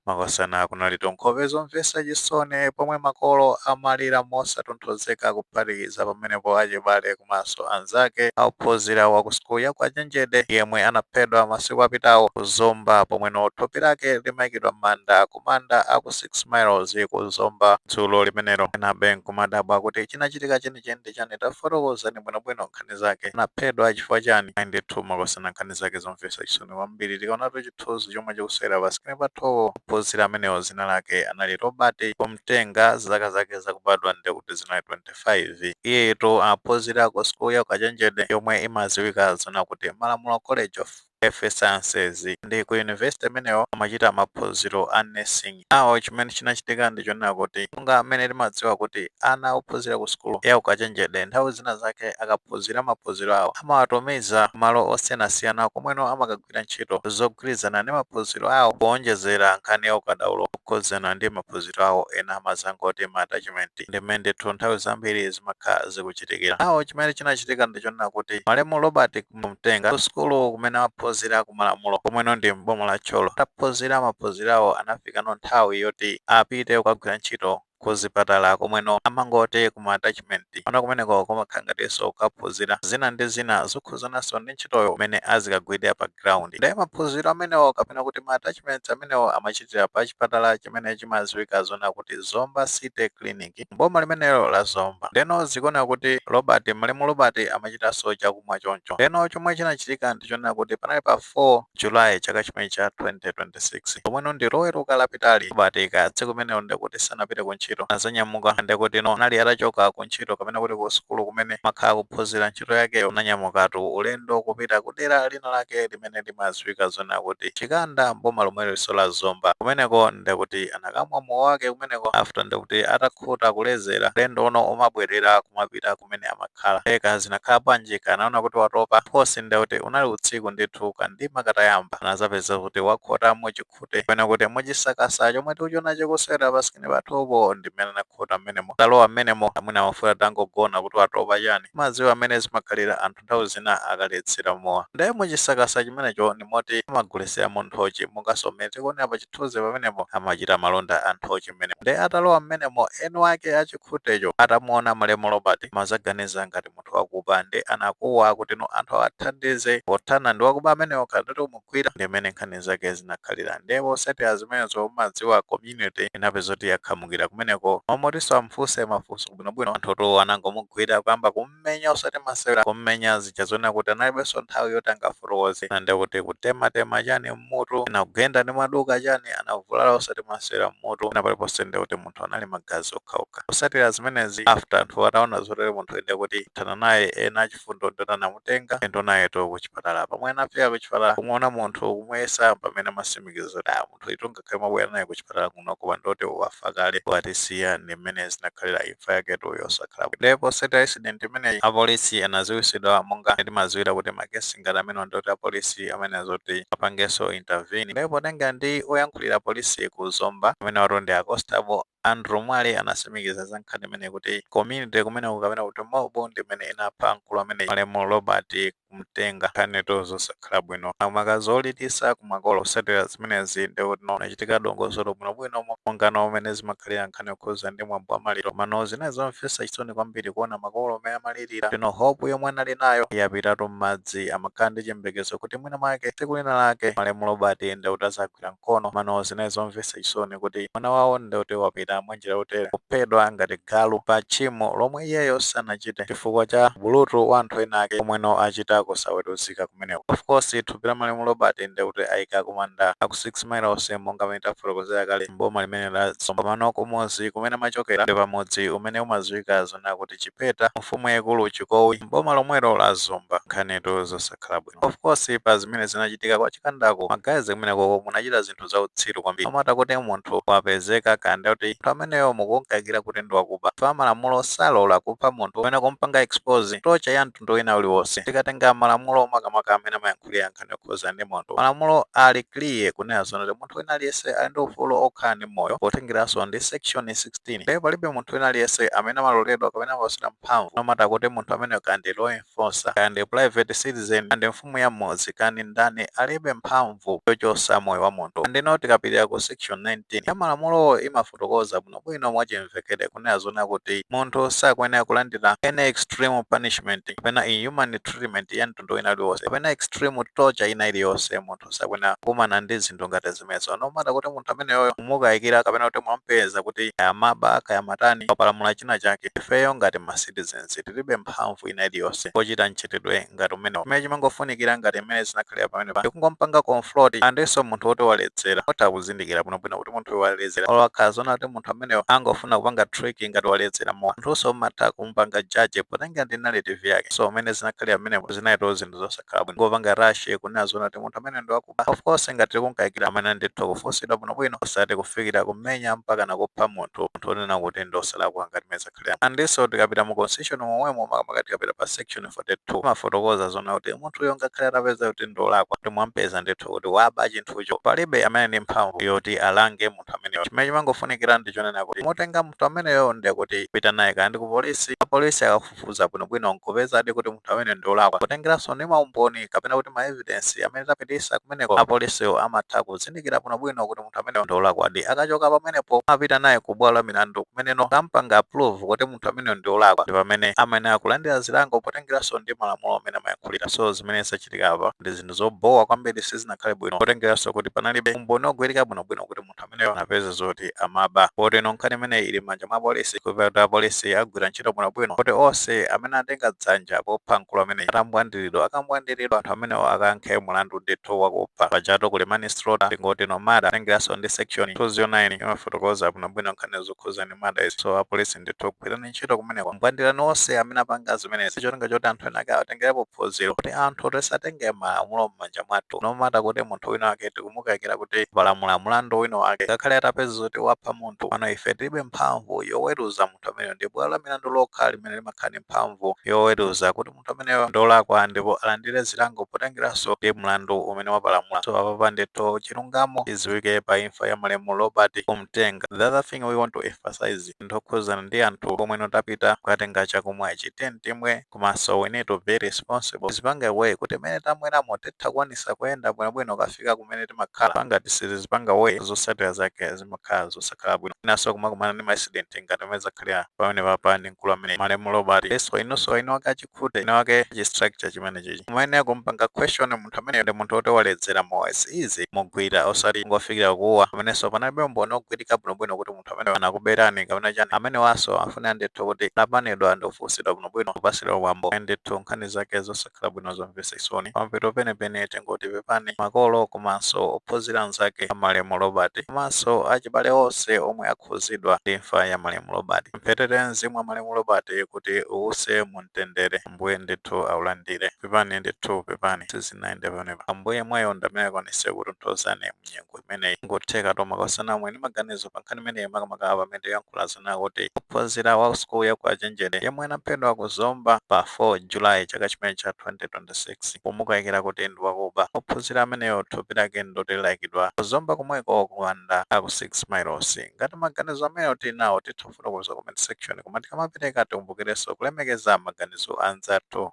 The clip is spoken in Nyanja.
Makosana kunalitu nkhope zomvetsa chisoni pomwe makolo amalira mosatonthozeka kuphatikiza pamenepo achibale komanso anzake a ophunzira wa ku sukulu ya ukachenjede yemwe anaphedwa masiku apitawo ku Zomba pomweno thupi lake limaikidwa m'manda ku manda a ku 6 miles ku Zomba dzulo limenelo. Enabe nkumadabwa kuti chinachitika chenicheni ndi chani? Tafotokozani bwinobwino nkhani zake. Anaphedwa chifukwa chani? Ayi ndithu Makosana nkhani zake zomvetsa chisoni kwambiri. Tikaonatu chi. chithunzi chomwe chikusewera pa screen pathupo. Ophunzira amenewo dzina lake anali Robert Kumtenga, zaka zake zakubadwa ndiye kuti zinali 25. Iyeyitu amaphunzira ku sukulu ya ukachenjede yomwe imadziwika zonena kuti Malamulo College of Health Sciences. Ndi ku yunivesite imeneyo amachita maphunziro a Nursing. Now chimene chinachitika ndi chonena kuti monga mmene timadziwa kuti ana ophunzira ku sukulu ya ukachenjede nthawi zina zake akaphunzira maphunziro awo amawatumiza kumalo osiyanasiyana komweno amakagwira ntchito zogwirizana ndi maphunziro awo kuonjezera nkhani ya ukadaulo wokhudzana ndi maphunziro awo ena amadzangoti ma attachment ndi mmene ndithu nthawi zambiri zimakhala zikuchitikira. Now chimene chinachitika ndi chonena kuti malemu Robert kumtenga ku sukulu kumene amaphunzira ku malamulo komweno ndi m'boma la tcholo ataphunzira maphunziro awo anafikano nthawi yoti apite kukagwira ntchito ku zipatala komweno amangoti ku ma attachment ona kumeneko kumakhala ngatinso kukaphunzira zina ndi zina zokhuzananso ndi ntchitoyo mmene azikagwirira pa ground ndiye maphunziro amenewo kapena kuti ma attachments amenewo amachitira pa chipatala chimene chimadziwika zonena kuti zomba city clinic mboma limenelo la zomba ndeno zikuoneka kuti robert malemu robert amachitanso chakumwa choncho ndeno chomwe chinachitika ndichonena kuti panali pa 4 julayi chaka chimenechi cha 2026 pomweno ndi loweruka lapitali robert ka tsiku limenelo ndekuti sanapite ku ntchito anazanyamuka ndekuti no anali atachoka ku ntchito kapena kuti ku sukulu kumene amakhala kuphunzira ntchito yakeyo ananyamukatu ulendo kupita ku dera lina lake limene limadziwika zonena kuti Chikanda mboma lomweliso la Zomba kumeneko ndekuti anakamwa mowa wake kumeneko after ndekuti atakhuta kulezera ulendo uno akumabwelera kumapita kumene amakhala eka zinakhala bwanji ka anaona kuti watopa phosi ndekuti unali utsiku ndithu kandima katayamba anazapeza kuti wakhota muchikhute kapena kuti muchisakasa chomwe tikuchiona chikusewera pasikirini pathupo ndi mmene anakhota mmenemo atalowa mmenemo mwina amafuna atangogona kuti watopa chani mumadziwa mmene zimakhalira anthu nthawi zina akaledzera mowa ndiye muchisakasa chimenecho ndi moti amagulitsiramo nthochi monganso mmene tikuonera pa chithunzi pamenepo amachita malonda a nthochi mmenemo ndiye atalowa mmenemo eni wake a chikhutecho atamuona malemu robert anazaganiza ngati munthu wakuba ndi anakuwa kuti no anthu awathandize pothana ndi wakuba amenewo khalidwe umugwira ndi mmene nkhani zake zinakhalira ndiye potsatira zimenezo mumadziwa community inapeza kuti yakhamukira kumeneko mmalo moti amfunse mafunso bwinobwino anthutu anangomugwira kuyamba kum kum'menya osati masewera kum'menya zija zonena kuti analibenso nthawi yoti angafotokoze ena ndiye kuti kutematema chani m'mutu ena kugenda ndi maduka chani anavulala osati masewera m'mutu pena paliponse ndiye kuti munthu anali magazi okhaokha kusatira zimenezi after anthu ataona zotere munthu ndiye kuti athana naye ena achifundo ndoti anamutenga ulendo nayetu kuchipatala pomwe anafika kuchipatala kumuona munthu kumuyesa pamene amasimikiza kuti ah munthuyutu nga khale mwabwera naye kuchipatala kuno koma ndoti wafa kale watisiya ndi mmene zinakhalira imfa yaketu yosakhala bwino ndiye posatira incident imeneyi apolisi anaziwisidwa monga timaziwira kuti makesi ngati amenewa ndoti apolisi amayenera zoti apangenso intervene ndiye potengera ndi oyankhulira polisi ku zomba amenewatu ndi a constable andrew mwale anasimikiza za nkhani imeneyi kuti community kumeneko kapena kuti mob ndi imene inapha mkulu ameneyu malemu robert kumtenga nkhanitu zosakhala bwino maka zolilisa kumakolo kusatira zimenezi ndikuti kunachitika dongosolo bwinobwino mo- mongano mmene zimakhalira nkhani yokhuza ndi mwambo wa maliro mano zinali zomvesa chisoni kwambiri kuona makolo mmene amalirira potino hope yomwe anali nayo yapitatu m'madzi amakhala ndi chiyembekezo kuti mwina mwake tsiku lina lake malemu robert ndikuti aza wagwira mkono mano zinali zomvetsa chisoni kuti mwana wawo ndi kuti wapita mwanjira yotere kuphedwa ngati galu pa tchimo lomwe iyeyo sanachite chifukwa cha ubulutu wa anthu ena ake omweno achita kusaweruzika kumeneko of course thupi la malemu robert ndi kuti ayika kumanda aku 6 miles monga mmene tafotokozera kale mboma limene la zomba mano kumudzi kumene amachokera ndi pamudzi umene umadziwika zona kuti chipeta mfumu yaikulu chikowi mboma lomwelo la zomba nkhanitu zosakhala bwino Of course pa zimene zinachitika kwa Chikandako ma guys kumeneko munachita zinthu za utsiru kwambiri. No matter kuti munthu wapezeka kaya ndiye kuti munthu ameneyo mukumukayikira kuti ndi wakuba, chifukwa malamulo salola kupha munthu kapena kumupanga expose torture ya mtundu wina uliwonse. Tikatenga malamulo makamaka amene amayankhulira nkhani yokhudzana ndi munthu, malamulo ali clear kunena zoona kuti munthu wina aliyense ali ndi ufulu wokhala ndi moyo potengeranso ndi section 16. Ndipo palibe munthu wina aliyense amene amaloledwa kapena amapatsidwa mphamvu no matter kuti munthu ameneyo kaya ndi law enforcer kaya ndi private citizen kaya ndi mfumu ya mmudzi kaya ndi ndani alibe mphamvu yochosa moyo wa munthu and ino tikapitira ku section 19 ya malamulowo imafotokoza bwinobwino mwachimvekere kunena zona kuti munthu sakuyenera kulandira any extreme punishment kapena inhuman treatment ya mtundu wina uliwonse kapena extreme torture ina iliyonse munthu sakuyenera kukumana ndi zinthu ngati zimenezo no matter kuti munthu ameneyoyo mukumukayikira kapena kuti mwampeza kuti kaya amaba kaya amatani wapalamula china chake ifeyo ngati ma citizens tiribe mphamvu ina iliyonse pochita mchitidwe ngati umenewo. Chimene chimangofunikira ngati mmene zinakhalira pamenepa ndi kungompanga confront andinso munthu woti waledzera. Mutha kuzindikira bwinobwino kuti munthuyu waledzera olo akhala zoona kuti munthu ameneyo angofuna kupanga trick ngati waledzera mowa. Munthunso mumatha kumupanga judge potengera ndi narrative yake. So mmene zinakhalira pamenepo zinalitu zinthu zosakhala bwino. Kungopanga rush kunena zoona kuti munthu ameneyo ndi wa. kuba. Of course ngati tikum'kayikira mwina ndithu kufunsidwa bwinobwino osati kufikira kumenya mpaka na kupha munthu munthu onena kuti ndi osalakwa ngati mmene zakhalira. Andinso tikapita mu constitution momwemo makamaka tikapita pa section 42 imafotokoza zonena kuti munthuyo ngakhale atapeza kuti ndi wolakwa kuti mwamupeza ndithu kuti waba chinthucho palibe amene ndi mphamvu yoti alange munthu ameneyo. Chimene chimangofunikira ndi chonena kuti mutenga munthu ameneyo ndiye kuti pita naye kaya ndi kupolisi apolisi akafu fufuza bwinobwino n'kupezadi kuti munthu ameneyo ndi wolakwa. Potengeranso ndi maumboni kapena kuti maevidensi amene tapititsa kumeneko, apolisiwo amatha kuzindikira bwinobwino kuti munthu ameneyo ndi wolakwadi. Akachoka pamenepo, apita naye kubwalo la milandu kumeneno akam'panga approve kuti munthu ameneyo ndi wolakwa. Ndi pamene amayenera kulandira zilango potengeranso ndi malamulo amene amayankhulira. So zimene zachitika apa ndi zinthu zobhowa kwambiri, sizinakhale bwino potengeranso kuti panalibe umboni wogwirika bwinobwino kuti munthu. munthu ameneyo anapeza zoti amaba poti no nkhani imeneyi ili m'manja mwa apolisi kupempha kuti apolisi agwire ntchito bwinobwino kuti onse amene atenga dzanja popha mkulu ameneyi atambwandiridwa, akambwandiridwa anthu amenewo akayankhe mulandu ndithu wakupha pajatu kuli manslaughter tingoti no murder tengeranso ndi section 209 imafotokoza bwinobwino nkhani zokhuza ndi murder izi so apolisi ndithu gwirani ntchito kumeneko mbwandirani onse amene apanga zimenezi cholinga choti anthu enake atengerepo phunziro kuti anthu tisatenge malamulo m'manja mwathu no matter kuti munthu wina wake tikumukayikira kuti wapalamula mlandu wina wake ngakhale atapeza kuti wapha munthu pano ife tilibe mphamvu yoweruza munthu ameneyo ndi bwalo la milandu lokha limene limakhala ndi mphamvu yoweruza kuti munthu ameneyo ndolakwa ndipo alandire zilango potengeranso ndi mlandu umene wapalamula so apapa ndithu chilungamo chidziwike pa imfa ya malemu robert kumtenga the other thing we want to emphasize ndi yokhuzana ndi anthu omwe no tapita kukatenga chakumwa ichi tiye timwe komanso we need to be responsible tizipange way kuti mmene tamweramo titha kukwanisa kuyenda bwinobwino kukafika kumene timakhala pa ngati sitizipanga way zosatira zake zimakhala zosakhala bwino inanso kumakumana ndi ma accident ngati mmene zakhalira pamene papa ndi mkulu amene malemu robert so inunso winawake achikhute winawake achistructure chimene chichi kumene kumpanga question munthu amene ndi munthu oti waledzera mowa easy kumugwira osati kungofikira kukuwa pamenenso panalibe umboni ogwirika bwinobwino kuti munthu amene anakuberani kapena chani amenewanso afunika ndithu kuti apanidwa ndi kufunsidwa bwinobwino kupasidwa mwambo ndithu nkhani zake zosakhala bwino zomvetsa chisoni pamapeto penipeni tingoti pepani makolo komanso ophunzira anzake a malemu robert komanso achibale onse omwe akhuzidwa ndi imfa ya malemu robert mpemphere mzimu wa malemu robert kuti uwuse mu mtendere ambuye ndithu aulandire pepani ndithu pepani sizinayende pamenepa ambuye yemweyo ndamene akwanise kukutonthozani mnyengo imeneyi n'kutheka tomwa kusana mwe ndi maganizo pa nkhani imeneyi makamaka pamene tiyankhula zonena kuti wophunzira wa sukulu ya ukachenjede yemwe anaphedwa ku zomba pa 4 julayi chaka chimene cha 2026 pomukayikira kuti ndi wakuba ophunzira ameneyo thupi lake ndoti laikidwa ku zomba komweko kumanda aku 6 miles ngati maganizo ameneyo tili nawo titha kufotokoza comment section koma tikamapereka tikumbukirenso kulemekeza maganizo anzathu